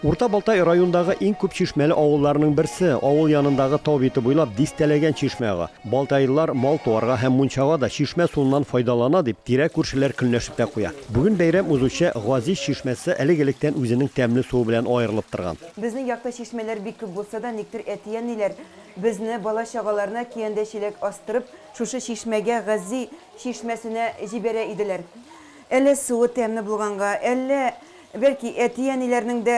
Урта Балтай райондагы иң күп чишмәле авылларның берсе, авыл янындагы тау бите буйлап дистәләгән чишмә ага. Балтайлылар мал туарга һәм мунчага да чишмә суыннан файдалана, дип, тирә-күршеләр көнләшеп тә куя. Бүген бәйрәм узучы Газиз чишмәсе элек-электән үзенең тәмле суы белән аерылып торган. Безнең якта чишмәләр бик күп булса да, никтер әти-әниләр безне, бала-чагаларны киәндә-чиләк астырып, шушы чишмәгә, Гази чишмәсенә җибәрә иделәр. Әллә суы тәмле булганга, әллә Бәлки, әти-әниләрнең дә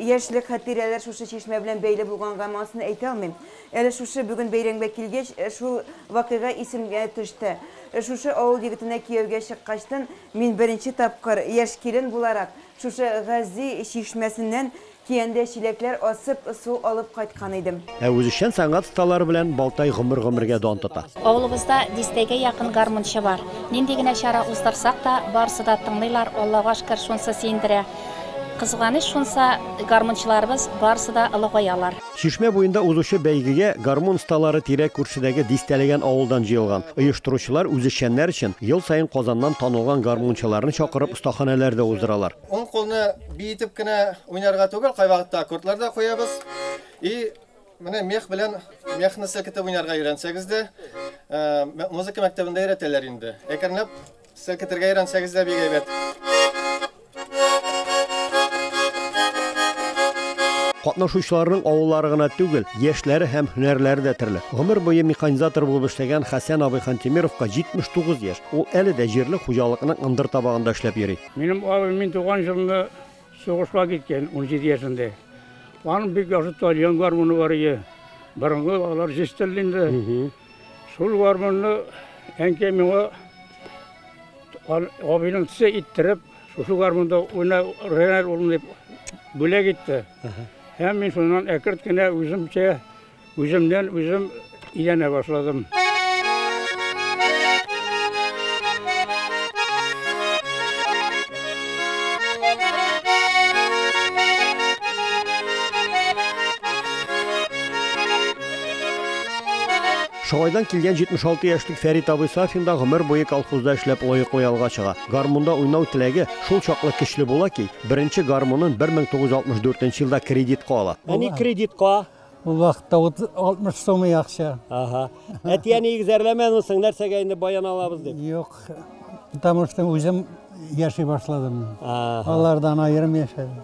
яшьлек хатирәләре шушы чишмә белән бәйле булганга, монысын әйтә алмыйм. Әле шушы бүген бәйрәмгә килгәч, шул вакыйга исемгә төште. Шушы авыл егетенә кияүгә чыккачтын мин беренче тапкыр, яшь килен буларак, шушы Гази чишмәсеннән киәндә чиләкләр асып, су алып кайткан идем. Ә үзешчән сәнгать осталары белән Балтай гомер-гомергә дан тота. Авылыбызда дистәгә якын гармунчы бар. Нинди генә чара уздырсак та, барысы да тыңлыйлар, Аллага шкер, шунсы сөендерә. Кызганыч шунса, гармунчыларыбыз барысы да олыгаялар. Чишмә буенда узучы бәйгегә гармун осталары тирә-күршедәге дистәләгән авылдан җыелган. Оештыручылар үзешчәннәр өчен ел саен Казаннан танылган гармунчыларны чакырып остаханәләр дә уздыралар. Уң кулны биетеп кенә уйнарга түгел, кайвакытта аккордлар да куябыз. И менә мех белән мехны селкетеп уйнарга өйрәнсәгез дә, музыка мәктәбендә өйрәтәләр инде. Әкренләп селкетергә өйрәнсәгез дә бик әйбәт. Катнашучыларның авыллары гына түгел, яшьләре һәм һөнәрләре дә төрле. Гомер буе механизатор булып эшләгән Хәсән абый Хантимировка 79 яшь. Ул әле дә җирле хуҗалыкның ындыр табагында эшләп йөри. Минем абый мин туган җылында Сугышка киткән, унҗиде яшендә. Аның бик яхшы тальян гармуны бар иде. Борынгы алар җистелде инде. Шул гармунны әнкәй миңа абыйның тесе иттереп, шушы гармунда уйна, Ренар улым дип бүләк итте. Һәм мин шуннан әкерт кенә үземчә Үземнән үзем өйрәнә башладым. Шагайдан килгән 76 яшьлек Фәрит абый Сафин да гомер буе колхозда эшләп лаеклы ялга чыга. Гармунда уйнау теләге шул чаклы көчле була ки, беренче гармунын 1964 елда кредитка ала. Әни кредитка Ул вакытта 60 сумы акча. Ага. Әтияне игзәрләмәдеңсең, нәрсәгә инде баян алабыз дип? Юк. Потому что үзем яши башладым. Алардан аерым яшәдем.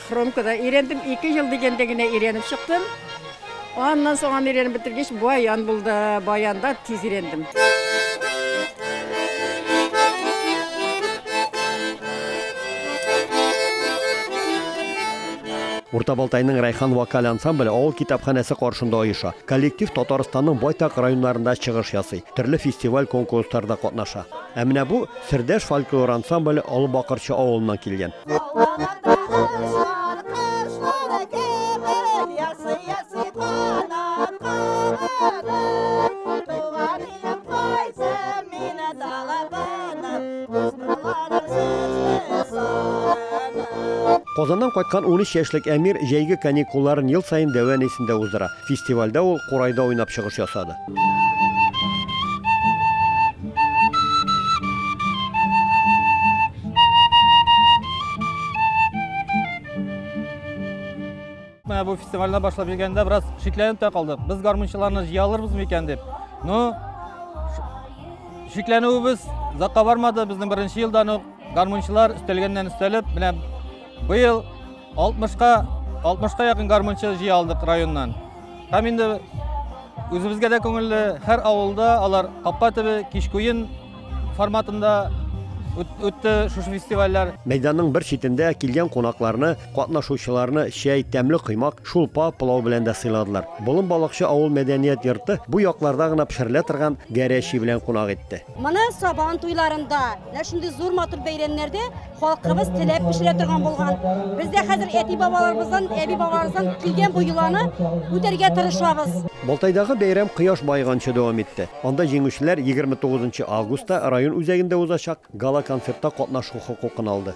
Хромкада өйрәндем, ике ел дигәндә генә өйрәнеп чыктым. Аннан соң аны өйрәнеп бетергәч, баян булды. Баянда тиз өйрәндем. Урта Балтайның Райхан вокаль ансамбле авыл китапханәсе каршында оеша. Коллектив Татарстанның байтак районнарында чыгыш ясый, төрле фестиваль-конкурсларда катнаша. Ә менә бу Сердәш фольклор ансамбле Олы Бакырчы авылыннан килгән. Казаннан кайткан 13 яшьлек Әмир җәйге каникулларын ел саен Дәвән исендә уздыра. Фестивальдә ул Курайда уйнап чыгыш ясады. Менә бу фестивальне башлап йөргәндә бераз шикләнеп тә калдык. Без гармунчыларны җыя алырбыз микән дип. Ну, шикләнүебез озакка бармады. Безнең беренче елдан ук гармунчылар өстәлгәннән өстәлеп, менә быел 60-ка 60-ка якын гармунчы җыя алдык районнан. Һәм инде үзебезгә дә күңелле, һәр авылда алар капка төбе кичкуен форматында үтте шушы фестивальләр. Мәйданның бер читендә килгән кунакларны, катнашучыларны чәй, тәмле коймак, шулпа, пылау белән дә сыйладылар. Болын балыкчы авыл мәдәният йорты бу якларда гына пешерелә торган гәрәчи белән кунак итте. Моны Сабан туйларында, менә шундый зур матур бәйрәмнәрдә Халкыбыз теләп пешерә торган булган. Без дә хәзер әти-бабаларыбыздан, әби-бабаларыбыздан килгән бу йоланы үтәргә тырышабыз. Балтайдагы бәйрәм кояш баеганчы дәвам итте. Анда җиңүчеләр 29 нчы августта район үзәгендә узачак гала-концертта катнашу хокукын алды.